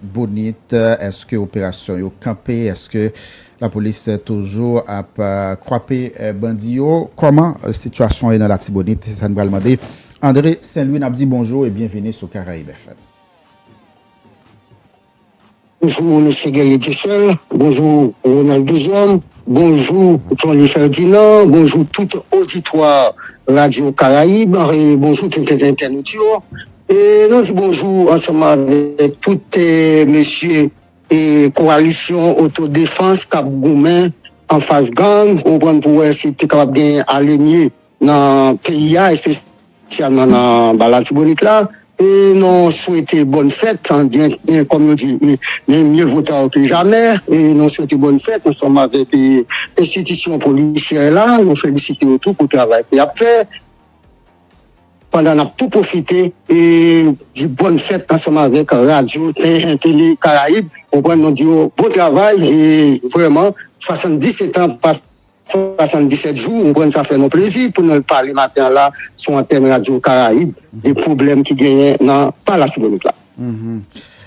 Bonit eske operasyon yo kanpe eske la polis toujou ap kwape bandi yo kòman sitiyasyon ye nan latibonit se sa nou pral mande Andre senlwi nap di bonjou e byenvini sou karayib FM. Bonjou mesye Guerrier Dussel, bonjou Ronald Duzhomme, bonjou Johnny Ferdinand, bonjou tout oditwa radyo karayib e bonjou tout entènot yo, E nou di bonjou ansanm avèk tout mesye kowalisyon otodefans k ap goumen anfas gang ou konprann pou wè si te kapab gen alemye nan peyi a espesyalman nan ba Latibonit la e nou swete bòn fèt kòm yo di men mye vo ta ke jamè e nou swete bòn fèt ansanm avèk enstitisyon polisyè la nou felisite yo tou pou travay ke y ap fè. pandan nap tou pwofite e di bòn fèt ansanm avèk radyo TN tele karayib konprann nou di yo bon travay e vrèman 77 an pa 77 jou ou konprann sa fè nou plezi pou nou pale maten an la sou antèn radyo karayib de pwoblèm ki genyen nan pa latibonit la.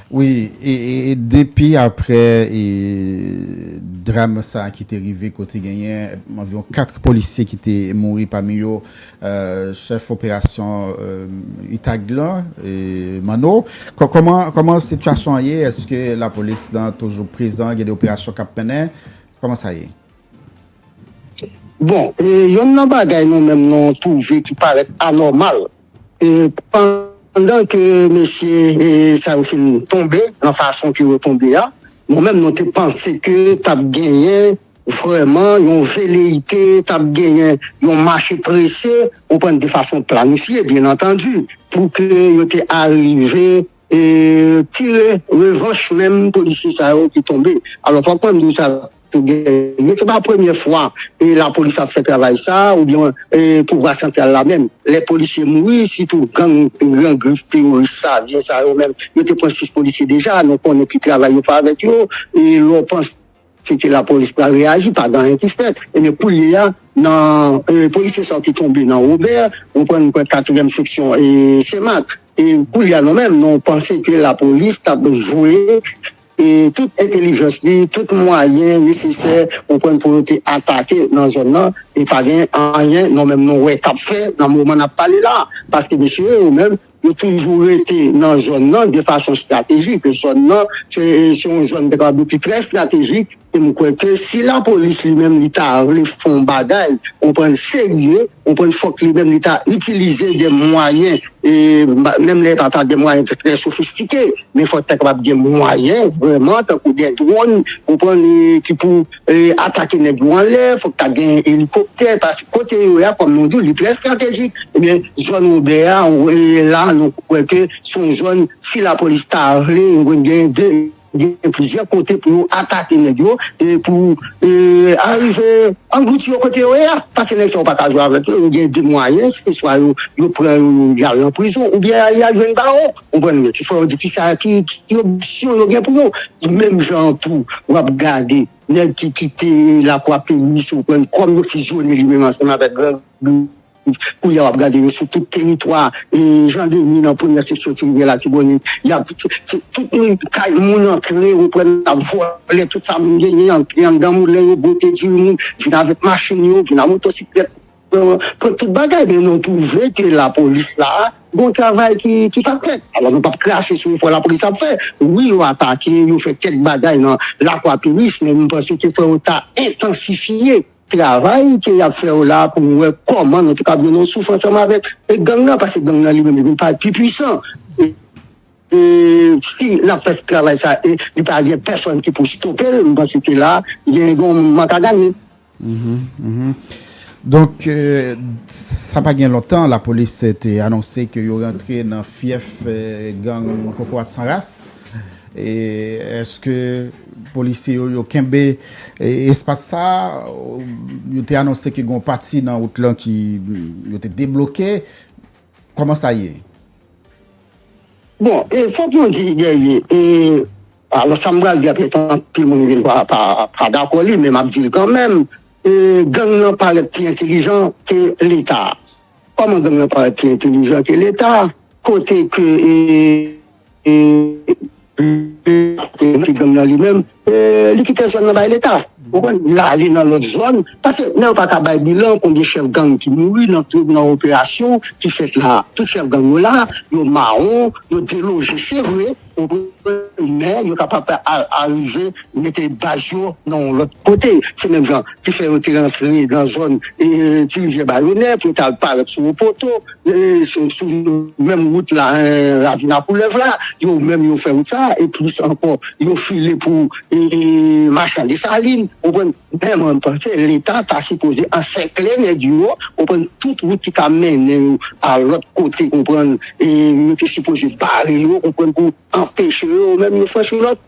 Wi e depi aprè dram sa ki te rive kote genyen anviwon 4 polisye ki te mouri pami yo chèf operasyon utag lan Manno kòman sitiyasyon an ye eske lapolis lan toujou prezan gen de operasyon k ap mennen kòman sa ye? Bon, yonn nan bagay nou menm nou twouve ki parèt anòmal, pandan ke mesye sa yo fin tonbe nan fason ke yo tonbe a, nou menm nou te panse ke t ap genyen vrèman yon veleyite, t ap genyen yon mache prese, ou konprann, de fason planifye, byennantandi, pou ke yo te arive. tire revanch menm polisye sa yo ki tonbe alò fòk mwen di sa tou gen se pa premye fwa lapolis ap fè travay sa oubyen pouvwa santral la menm lè polisye mouri sitou gang gran grif teworis savyen sa yo menm yo te pran 6 polisye deja nou konnen ki travay yo fè avèk yo lè w panse. Se te la polis pral reyaji, pa gen anyen ki fèt. Ebyen koulye a, nan polisye sa yo ki tonbe nan Robert, ou konprann mwen kwè katriyèm seksyon Senmak. E koulye a nou menm, nou panse ke la polis t ap jwe tout entelijans li, tout mwayen nesesè, ou konprann, pou yo te atake nan zòn nan. E pa gen anyen nou menm nou wè k ap fè nan moman n ap pale la a. Paske mesye yo menm, Yo toujou rete nan zòn nan de fason estratejik. Zòn nan se yon zòn te kapab di ki trè estratejik e m kwè ke si lapolis li menm li ta vle fè yon bagay, ou konprann, serye, ou konprann, fòk li menm li ta itilize de mwayen, menm lè e pa ta de mwayen trè sofistike, men fòk ta kapab gen mwayen vrèman tankou de dwòn, ou konprann, ki pou. atake nèg yo anlè fòk ta gen elikoptè pase kote yo ya kòm nou di li trè estratejik ebyen zòn Wobè a la nou kwè ke son zòn si lapolis ta vle yo konn gen de gen plizyè kote pou yo atake nèg yo e pou arive anglouti yo kote yo ya pase nèg sa yo pa ka jwe avèk yo yo gen de mwayen se swa yo pran yo yal nan prizon oubyen yal jwenn bawo. Konprann mwen. Ti fwa yo di kisa ki opsyon yo gen pou yo. Menm jan an tou w ap gade nèg ki kite lakwa peyi si w konprann kòm yo fizyone li menm ansanm avèk gran gouv koulye a w ap gade yo sou tout teritwa Jan Deni nan premyè seksyon ti rivyè latibonit y ap tout kay moun antre ou konprann y ap vòlè tout sa moun genyen antre anndan moulen yo bwote diri moun vin avèk machin yo vin a motosiklèt Pran tout bagay men nou twouve ke lapolis la gon travay ki pa fèt alò nou pap krache sou efò lapolis ap fè wi yo atake yo fè kèk bagay nan lakwaperis men nou panse ke fò yo ta entansifye travay ke yap fè yo la pou nou wè kòman nou te kab gen yon souf ansanm avèk gang nan paske gang nan li menm li vin parèt pi pwisan. Si lap fè travay sa e li pa gen pèsòn ki pou stopel m panse ke la gen yon moun mwen ka gade. Donk sa pa gen lontan lapolis te anonse ke yo rantre nan fyèf gang kokorat san ras e eske polisye yo yo kenbe espas sa yo te anonse ke gen yon pati nan wout lan ki yo te debloke. Koman sa ye? Bon, e fok mwen di Guerrier, e alò sa m pral di a pèt anpil moun vin pa dakò li men map di l kanmenm, e gang lan parèt pi entelijan ke leta. Koman gang lan parèt pi entelijan ke leta? Kote ke e. E li te nan gang nan li menm, li kite zòn nan bay leta. Ou konprann? Li ale nan lòt zòn. Paske lè yo pa ka bay bilan konbyen chèf gang ki mouri nan operasyon ki fèt la a. Tout chèf gang yo la, yo mawon, yo deloje se vre, ou konprann, men yo kapab arive mete baz yo nan yon lòt kote. Se menm jan ki fè yo te rantre nan zòn Tirivyè Bayonè pou yo t al parèt sou Opoto. sou menm wout la ravin a koulèv la yo menm yo fè wout sa e plis ankò yo file pou machan desalin ou konprann men mwen panse leta ta sipoze ansèkle nèg yo konprann tout wout ki ka mennen yo a lòt kote konprann yo te sipoze bare yo konprann pou anpeche yo menm yo franchi lòt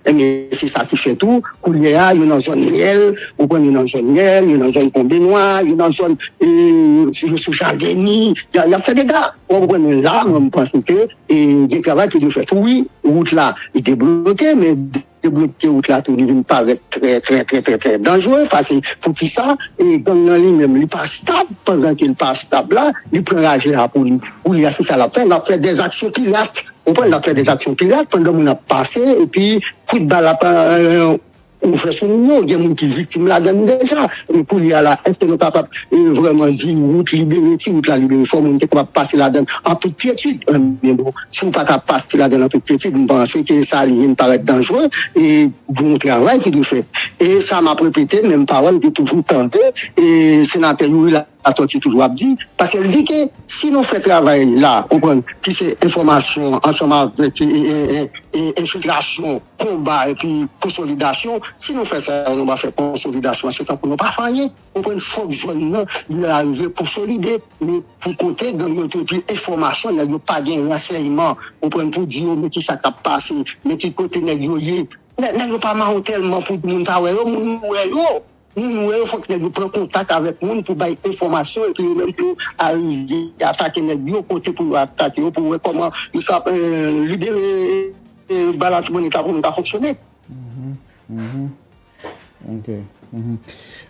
Ebyen se sa ki fè tou kounye a yo nan zòn myèl, ou konprann, yo nan zòn myèl, yo nan zòn konbenwa, yo nan zòn yo sou jadeni, y ap fè dega. Ou konprann mwen la mwen panse ke gen travay ki dwe fèt tou wi. Wout la debloke men debloke wout la tou li vin parèt trè trè trè trè trè danjre pase poukisa gang nan li menm li pa stab pandan ke li pa stab la li pran raje a pou li pou li a se sa l ap fè l ap fè dèzaksyon pirat Konprann lap fè des actions pirate pandan moun ap pase epi kout bal ap ouvè sou moun yo gen moun ki viktim ladann deja e koulye a la eske nou kapab vrèman di wout libere si wout la libere fò moun te kapab pase ladann an tout kyetid ebyen bon si ou pa ka pase ladann an tout kyetid m panse ke sa li vin parèt danjre e gon travay ki dwe fèt e sa map repete menm pawòl ke toujou tande e senatè Youri la. Latòti toujou ap di, paske l di ke si nou fè travay la, konprann, ki se enfòmasyon ansanm avèk enfiltrasyon, konba epi konsolidasyon, si nou fè sa yo, nou va fè konsolidasyon an, se tankou nou pa fè anyen, konprann, fòk zòn nan li arive konsolide, men pou kote gang yo te epi enfòmasyon nèg yo pa gen ransèyman, konprann, pou di yo men ki sa k ap pase, men ki kote nèg yo ye, nèg yo pa mawon tèlman pou moun ta wè yo, moun wè yo. Nou nou wè yo fòk nèg yo pran kontak avèk moun pou bay enfòmasyon epi yo menm tou arive atake nèg yo kote pou yo atake yo pou wè kòman yo ta libere bay latibonit la pou moun ka fonksyone.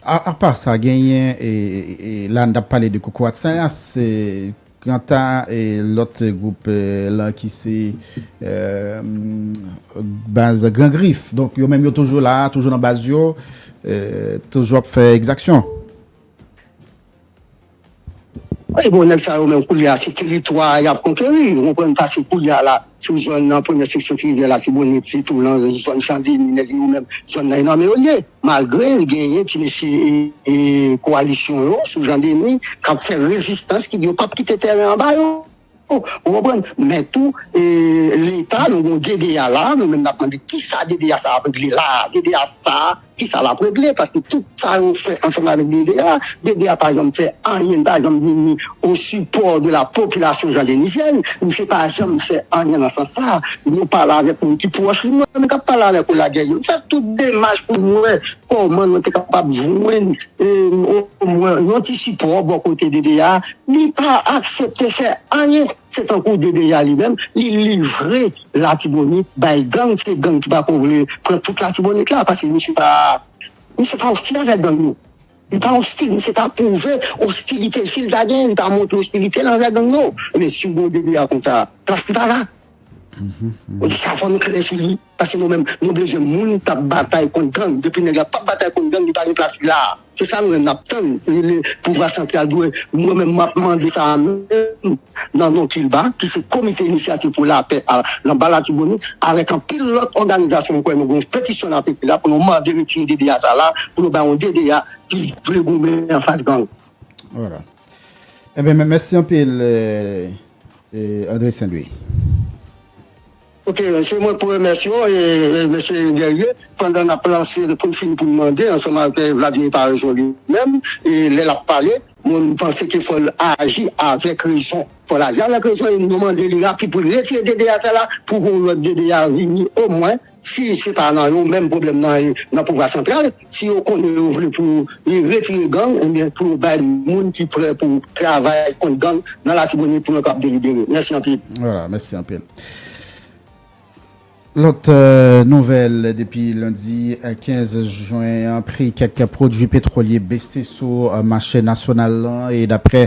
Apa sa genyen la n tap pale de koukourat sa se Kanta lòt gwoup lan ki se baz Gran Grif, donk yo menm yo toujou la, toujou nan baz yo, toujou ap fè ekzaksyon. Wi bon, nèg sa yo menm koulye a se teritwa y ap konkeri, ou konprann sa, se koulye a la. Sou zòn nan premyè seksyon ti rivyè latibonit sitou nan zòn chandeni nèg yo menm zòn nan nan men yo ye malgre genyen ti mesye kowalisyon yo sou chandeni kap fè rezistans ki di yo pap kite tèren an ba yo ou konprann men tou leta nou gen DDA la nou menm nap mande kisa DDA sa ap regle la DDA sa. Kisa lap regle paske tout sa yo fè ansanm avèk DD a, DD a pa janm fè anyen li pa janm vini o sipò de la popilasyon jan Denis Jèn misye pa janm fè anyen nan sans sa nou pale avèk moun ki pwòch li mwen menm kap pale avèk ou la Guy Jèn fè tout demach pou nou wè kòman nou te kapab jwenn o mwen yon ti sipò bò kote DD a li pa aksepte fè anyen se tankou DD a li menm li livre Latibonit bay gang se gang ki pako vle pran tout latibonit la paske misye pa misye pa ostil avèk gang yo li pa ostil misye pa pwouve ostilitel sil ta gen li pa montre ostilitel anvè gang yo ebyen siw gen yon DBA konsa plas li pa la ebyen sa fò nou klè sou li paske nou menm nou bezwen moun kap batay kont gang depi nèg la pap batay kont gang li pa gen plas li la. Se sa nou menm nap tann rele pouvwa santral dwe mwen menm map mande sa a menm nan non kilba ki se komite inisyativ pou lapè a nan ba latibonit avèk anpil lòt òganizasyon mwen kwè nou gen yon petisyon nap ekri la pou nou mande retire DDA sa la pou yo bay yon DDA ki vle goumen anfas gang. Voilà. Ebyen mèsi anpil André St-Louis. Ok se mwen pou remèsye w mesye Guerrier pandan nap lanse pou n fini pou n mande ansanm ak Vladimir Paraison li menm lè lap pale mwen m panse ke fò l aji avèk rezon fò l aji avèk rezon e nou mande li rapid pou l retire DDA sa la pou yon lòt DDA vini omwen si se pa nan yo menm pwoblèm nan e nan pouvwa santral. Si yo konnen yo vle pou yo retire gang, enben pou yo bay moun ki prè pou travay kont gang nan Latibonit pou yo kab delibere. Mèsi anpil. Wala, mèsi anpil. Lòt nouvèl, depi lendi 15 jen an, pri kèk pwodui petwolye bese sou mache nasyonal lan e daprè.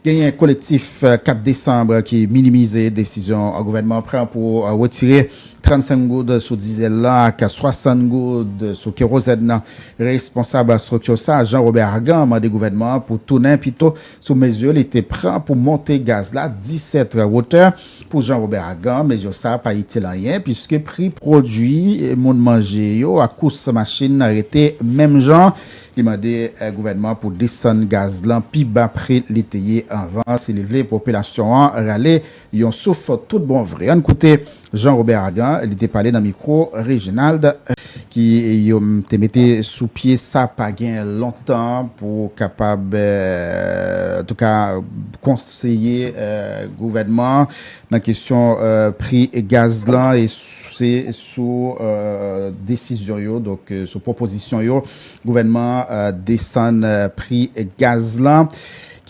Genyen kolektif 4 desanm ki minimize desizyon gouvènman an pran pou retire 35 goud sou dizèl lan ak 60 goud sou kerozèn nan. Responsab estrikti sa a, Jean Robert Argan, mande gouvènman an pou tounen pito sou mezi li te pran pou monte gaz la 17 wotè. Pou Jean Robert Argan, mezi sa a pa itil anyen puiske pri pwodui moun manje yo ak kous machin rete menm jan. Li mande gouvènman an pou desann gaz lan pi ba pri li te ye anvan si li vle popilasyon an rale yon souf tout bon vre. Ann koute Jean Robert Argan, li te pale nan mikwo Reginald ki yo te mete sou pye sa pa gen lontan pou kapab antouka konseye gouvènman an nan kesyon pri gaz lan e se sou desizyon yo, donk sou pwopozisyon yo, gouvènman an desann pri gaz la.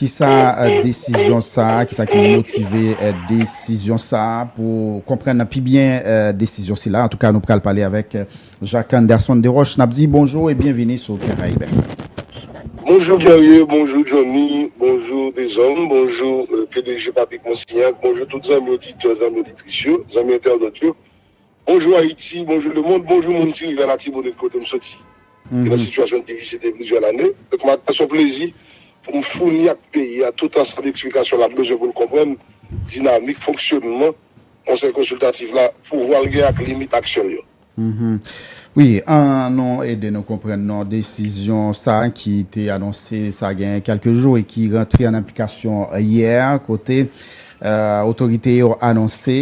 Kisa desizyon sa a, kisa ki motive desizyon sa a? Pou konprann pi byen desizyon sila, antouka nou pral pale avèk Jacques Anderson Desroches. N ap di bonjou e byenvini sou Karayib FM. Bonjou Guerrier, bonjou Johnny, bonjou Deshommes, bonjou pdg Papic Monsignac, bonjou tout zanmi oditè, zanmi oditris yo, zanmi entènot yo. Bonjou Ayiti, bonjou lemond, bonjou moun ti rivyè Latibonit kote m soti ki nan sitiyasyon difisil depi plizyè lane. Donk m apresye yon plezi pou m founi ak peyi a tout ansanm eksplikasyon l ap bezwen pou l konprann dinamik fonksyonman Konsèy Konsiltatif la, pouvwa l gen ak limit aksyon l yo. Wi, an nou ede nou konprann non desizyon sa ki te anonse sa gen kèlke jou e ki rantre an aplikasyon yè kote Otorite yo anonse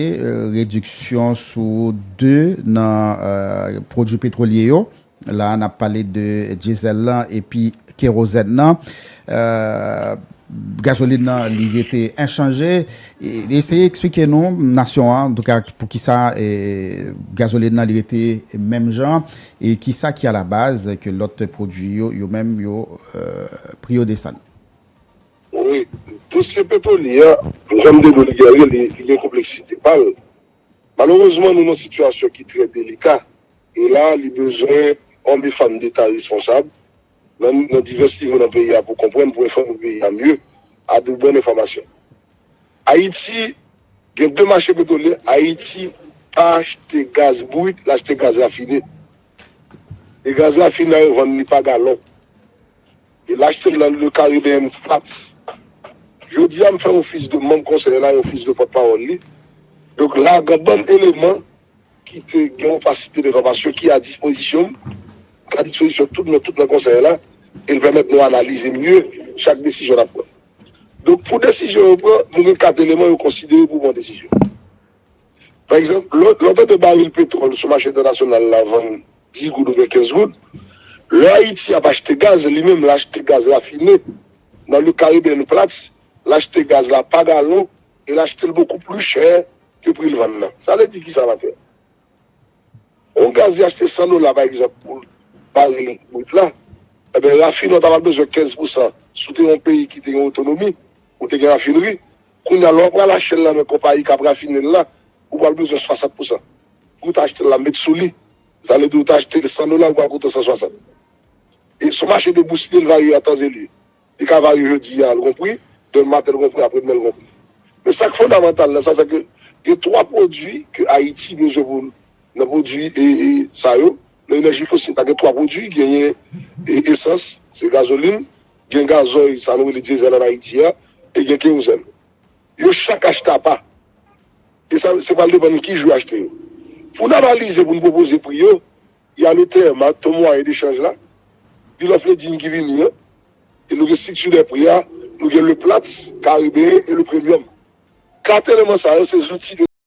rediksyon sou 2 nan pwodwi petwolye yo, la nap pale de dyezèl lan epi kerozèn nan. Gazolin nan li rete enchanje. Eseye eksplike nou nasyon an antouka poukisa gazolin nan li rete menm jan e kisa ki alabaz ke lòt pwodwi yo yo menm yo pri yo desann. Wi, dosye Petroni a, janm te di w li gen anyen, li gen konpleksite pa l. Malerezman nou nan sitiyasyon ki trè delika e la li bezwen òm e fanm deta responsab nan divès nivo nan peyi a pou konprann, pou enfòme peyi a mye a de bòn enfòmasyon. Ayiti gen 2 mache petrolye, Ayiti pa achte gaz brit, l achte gaz rafine. E gaz rafine a yo vann li pa galon. E l achte l nan Le Caribbean Flats. Jodi a m fè ofis de manm konsèy la e ofis de pòtpawòl li. Donk la gen banm eleman ki te gen yon fasite de fòmasyon ki a dispozisyon m, ki a dispozisyon tout nou tout nan konsèy la e l pèmèt nou analize mye chak desizyon n ap pran. Donk pou desizyon yo pran, nou gen kat eleman yo konsidere pou pran desizyon. Pa egzanp, lè w tande baril petwòl sou mache entènasyonal la vann 10 goud oubyen 15 goud, lè Ayiti ap achte gaz, li menm l achte gaz rafine nan Le Caribbean Platts, l achte gaz la pa galon e l achte l bokou pli chè ke pri l vann nan. Sa vle di kisa la tè? On gaz li achte 100 dola pa egzanp pou baril brut la, enben rafinè w ta pral bezwen 15 pousan. Si w te yon peyi ki te gen otonomi, ou te gen rafinri, Kounya lè w ap pral achte l nan men konpayi k ap rafine l la, ou pral bezwen 60 pousan. Pri w t achte l la met sou li, sa vle di ou t achte l 100 dola, li pral koute w 160. E son mache de bousye, li varye a tan e lye. Li ka varye jodi a l gon pri, demen maten l gon pri, apre demen l gon pri. Men sa k fondamantal nan sa, se ke gen 3 pwodui ke Ayiti bezwen pou l nan pwodui e sa yo nan enèji fosil la gen 3 pwodui, genyen esans, se gazolin, gen gazòy sa nou rele dyezèl an Ayiti a e gen kerozèn. Yo chak achte apa. E sa se pral depann ki jou yo achte yo. Pou n analize, pou n pwopoze pri yo, y a le TM a, Taux Moyen de Change la, Bill of Lading ki vini an, e nou gen strikti dè pri a, nou gen le Platts, Caribbean e le Premium. Kat eleman sa yo se zouti de.